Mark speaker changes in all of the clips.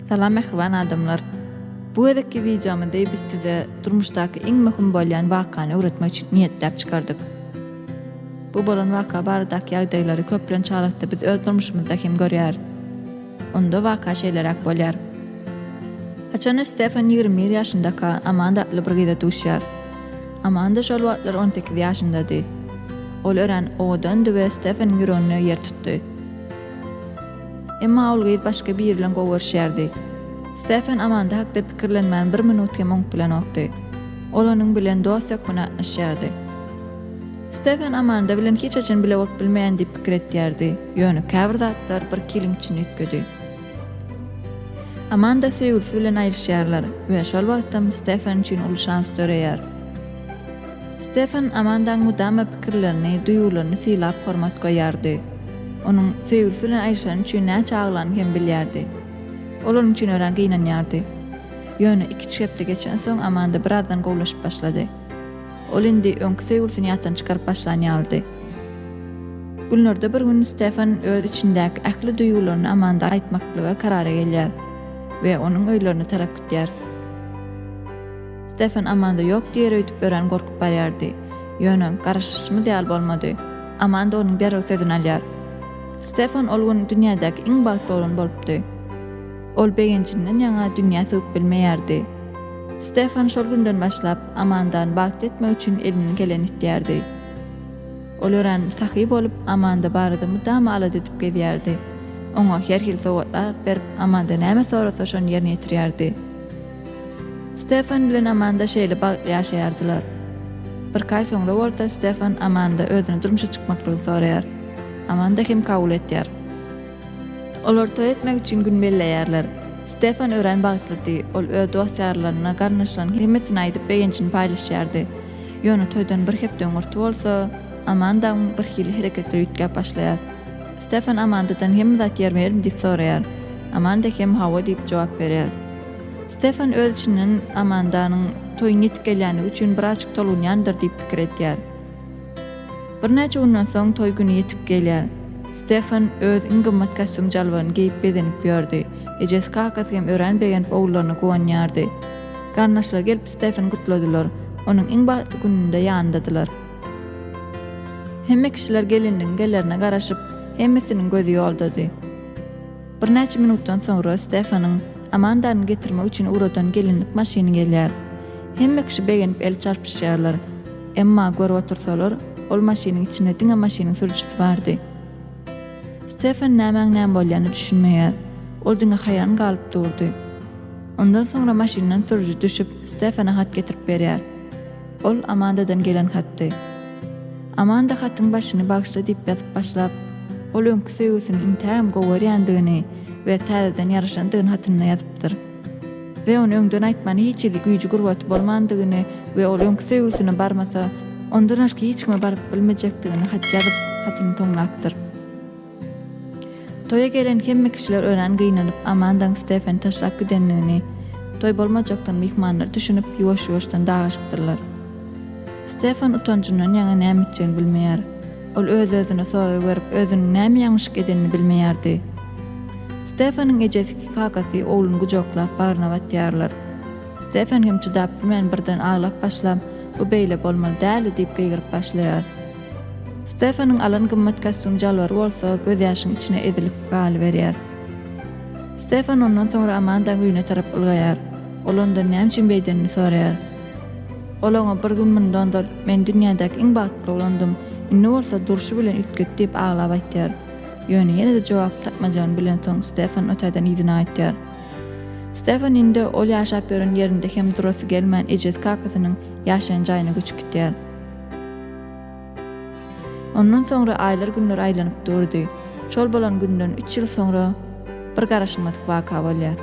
Speaker 1: Salam mähriban adamlar. Bu gezekki wideomyzda biz size durmuşdaky iň möhüm bolýan wakany öwretmek üçin niýetläp çykardyk. Bu bolan waka baradaky ýagdaýlary köplenç halatda biz öz durmuşymyzda hem görýäris. Onda waka şeýleräk bolýar. Haçanda Stefan ýigrimi bir ýaşyndaka Amanda atly bir gyza duşýar. Amanda şol wagtlar on sekiz ýaşyndady. Ol örän owadandy we Stefanyň ýüregine ýer tutdy. Emma ol gyz başga biri bilen gowy görüşýärdi. Stefan Amanda hakda pikirlenmän bir minut hem oňup bilenokdy. Ol onuň bilen dost hökmünde gatnaşýardy. Stefan Amanda bilen hiç haçan bile bolup bilmeýän diýip pikir etýärdi. Ýöne käbir zatlar bir kiliň içini üýtgedi. Amanda söýgülisi bilen aýryşýarlar we şol wagtam Stefan üçin uly şans döreýär. Stefan Amandaň mydama pikirlerini, duýgularyny sylap hormat goýýardy. Onuň söýgülisi bilen aýryşany üçin näçe aglany hem bilýärdi. Ol onuň üçin örän gynanýardy. Ýöne iki-üç hepde geçensoň Amanda birazdan gowulaşyp başlady. Ol indi öňki söýgülisini ýatdan çykaryp başlan ýalydy. Günlerde bir gün Stefan öz içindäki ähli duýgularyny Amanda aýtmaklyga karara gelýär we onuň öýlerine tarap gidýär. Stefan Amanda ýok diýer öýdüp örän gorkup barýardy. Ýöne, garaşyşymyz ýaly bolmady. Amanda onuň derrew sözüni alýar. Stefan ol gün dünýädäki iň bagtly oglan bolupdy. Ol begenjinden ýaňa dünýä sygyp bilmeýärdi. Stefan şol günden başlap Amandany bagtly etmek üçin elinden geleni etýärdi. Ol örän sahy bolup, Amanda barada mydama alada edip gezýärdi. Oňa her hili sowgatlar berip, Amanda näme sorasa, şony ýerine ýetirýärdi. Stefan bilen Amanda şeýle bagtly ýaşaýardylar. Birki aý soňra bolsa, Stefan Amanda özüne durmuşa çykmaklygy soraýar. Amanda hem kabul etýär. Olar toý etmek üçin gün belleýärler. Stefan örän bagtlydy. Ol öz dost-ýarlaryna, garyndaşlaryna hemmesine aýdyp, begenjini paýlaşýardy. Ýöne toýdan bir hepde öňürti bolsa, Amandaň birhili hereketleri üýtgäp başlaýar. Stefan Amandadan hemme zat ýerme-ýerim diýip soraýar. Amanda hem hawa diýip jogap berýär. Stefan öz içinden Amandanyň toýuň ýetip gelýändigi üçin birazjyk tolgunýandyr diýip pikir edýär. Birnäçe günden soň toý güni ýetip gelýär. Stefan öz iň gymmat kostýum-jalbaryny geýip bezenip ýördi. Ejesi-kakasy hem örän begenip ogullaryna guwanýardy. Garyndaşlary gelip Steffeni gutladylar. Onuň iň bagtly gününde ýanyndadylar. Hemme kişiler gelinligiň gelerine garaşyp, hemmesiniň gözi ýoldady. Birnäçe minutdan soňra Steffeniň Amandany getirmek üçin ugradan gelinlik maşyny gelýär. Hemme kişi begenip el çarpyşýarlar. Emma görüp otursalar, ol maşynyň içinde diňe maşynyň sürüjisi bardy. Steffen nämäň näme bolýanyna düşünmeýär. Ol diňe haýran galyp durdy. Ondan soňra maşyndan sürüji düşüp, Stefana hat getirip berýär. Ol Amandadan gelen hatdy. Amanda hatyň başyny Bagyşla diýip ýazyp başlap, ol öňki söýgüsini intägem gowy görýändigini we täzeden ýaraşandygyny hatynda ýazypdyr. We ony öňden aýtmany hiç hili güýji-gurbaty bolmandygyny we ol öňki söýgüsine barmasa, ondan başga hiç kime baryp bilmejekdigini hat ýazyp, hatyny toňlapdyr. Toýa gelen hemme kişiler örän gynanyp, Amandaň Stefeni taşlap gidendigini, toý bolmajakdygyny myhmanlar düşünip, ýuwaş-ýuwaşdan dagaşypdyrlar. Stefan utanjyndan ýaňa näme etjegini bilmeýär. Ol öz-özüne sorag berip, özüniň näme ýalňyşlyk edenini bilmeýärdi. Stefanyň ejesiki kakasy ogluny gujaklap, bagryna basýarlar. Stefan hem çydap bilmän, birden aglap başlap, Bu beýle bolmaly däldi diýip gygyryp başlaýar. Stefanyň alan gymmat kostýum jalbary bolsa gözýaşyň içine ezilip galyberýär. Stefan ondan soňra Amandaň öýüne tarap ylgaýar. Ol ondan näme üçin beýdenini soraýar. Ol oňa bir gün mundan ozal, Men dünýädäki iň bagtly oglandym, indi bolsa durşy bilen üýtget diýip aglap aýtýar. Ýöne ýene-de jogap tapmajagyny bilensoň Stefan otaýdan yzyna gaýtýar. Stefan indi ol ýaşap ýören ýerinde hem durasy gelmän ejesi-kakasynyň ýaşaýan jaýyna göçüp gitýär. Ondan soňra aýlar günler aýlanyp durdy. Şol bolan günden üç ýyl soňra bir garaşylmadyk waka bolýar.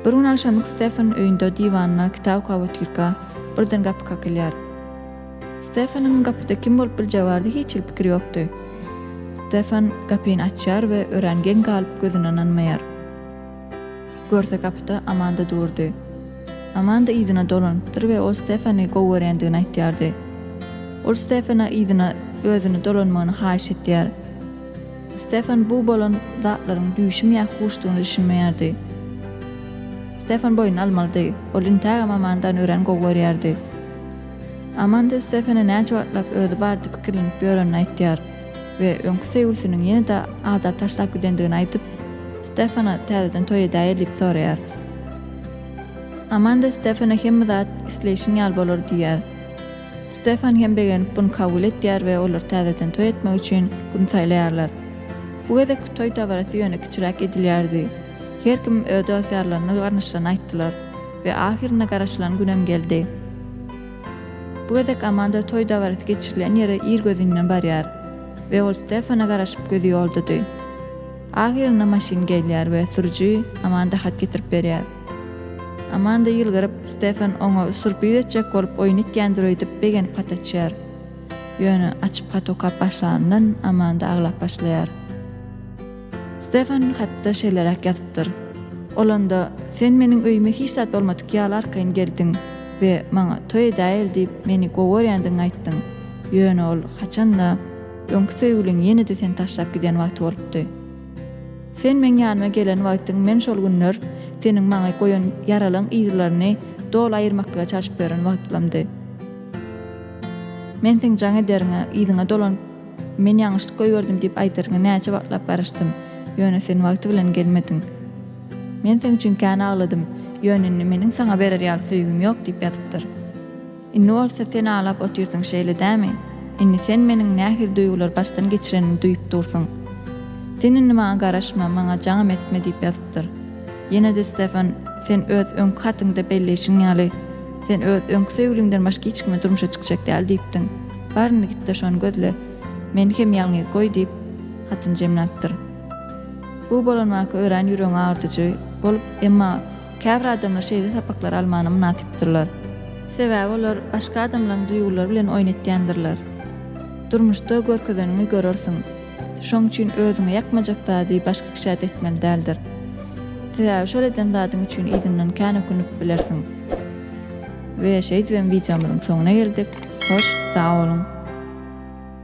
Speaker 1: Bir gün agşamlyk Stefan öýünde diwanyna kitap okap otyrka birden gapy kakylýar. Stefanyň gapyda kim bolup biljegi barada hiç hili pikiri ýokdy. Stefan gapyny açýar we örän geň galyp gözüne ynanmaýar. Görse gapyda Amanda durdy. Amanda yzyna dolanypdyr we ol Stefany gowy görýändigini aýtýardy. Ol Stefana yzyna özüne dolanmagyny haýyş etýär. Stefan bu bolan zatlaryň düýşümi ýa huşdugyny düşünmeýärdi. Stefan boýun almalydy, ol intägem Amandany örän gowy görýärdi. Amanda Stefana näçe wagtlap özi bardy pikirlenip ýörenini aýtýar. we öňki söýgülisiniň ýene-de Ada taşlap gidendigini aýdyp, Stefana täzeden toý edäýeli diýip soraýar. Amanda Stefana hemme zat isleýşiň ýaly bolar diýýär. Stefan hem begenip buny kabul etýär we olar täzeden toý etmek üçin gün saýlaýarlar. Bu gezekki toý dabarasy ýöne kiçiräk edilýärdi. Her kim öz dost-ýarlaryny, garyndaşlaryny aýtdylar we ahyrynda garaşylan günem geldi. Bu gezek Amanda toý dabarasy geçirilýän ýere irgözinden barýar we ol Stefana garaşyp gözi ýoldady. Ahyrynda maşyn gelýär we sürüji Amanda hat getirip berýär. Amanda ýylgyryp, Stefan oňa surpriz etjek bolup oýun etýändir öýdüp begenip hat açýar. Ýöne açyp hat okap başlanyndan Amanda aglap başlaýar. Stefan hatda şeýleräk ýazypdyr, Olanda sen meniň öýüme hiç zat bolmadyk ýaly arkaýyn geldiň we maňa toý edäýeli diýip meni goworýändigiňi aýtdyň, ýöne ol haçan-da, öňki söýgüliň ýene-de seni taşlap giden wagty bolupdy. Sen meň ýanyma gelen wagtyň men şol günler seniň maňa goýan ýaralyň yzlaryny doly aýyrmaklyga çalşyp ýören wagtlamdy. Men seň jaň ederiňe, yzyňa dolanyp, Men ýalňyşlyk goýberdim diýip aýdaryn, näçe wagtlap garaşdym, ýöne sen wagty bilen gelmediň. Men seň üçin kän agladym, ýöne indi meniň saňa berer ýaly söýgim ýok diýip ýazypdyr. Indi bolsa sen aglap otyrsyň, şeýle dämi? Indi sen meniň nähili duýgulary başdan geçirenimi duýup dursyň. Sen indi maňa garaşma, maňa jaňam etme diýip ýazypdyr. Ýene-de Stefan, sen öz öňki hatyňda belleýşiň ýaly, Sen öz öňki söýgüliňden başga hiç kime durmuşa çykjak däl diýipdiň. Bar indi git-de şony gözle. Meni hem ýalňyz goý diýip, hatyny jemläpdir. Bu bolan waka örän ýüregiňi agyrdyjy bolup, emma käbir adamlar şeýle sapaklary almana mynasypdyrlar. Sebäbi olar başga adamlaryň duýgulary bilen oýun etýändirler. Durmuşda görkezeniňi görersiň. Şoň üçin özüňe ýakmajak zady başga kişä de etmeli däldir. Sebäbi şol eden zadyň üçin yzyndan kän ökünip bilersiň. We şeýdibem wideomyzyň soňuna geldik. Hoş, sag boluň!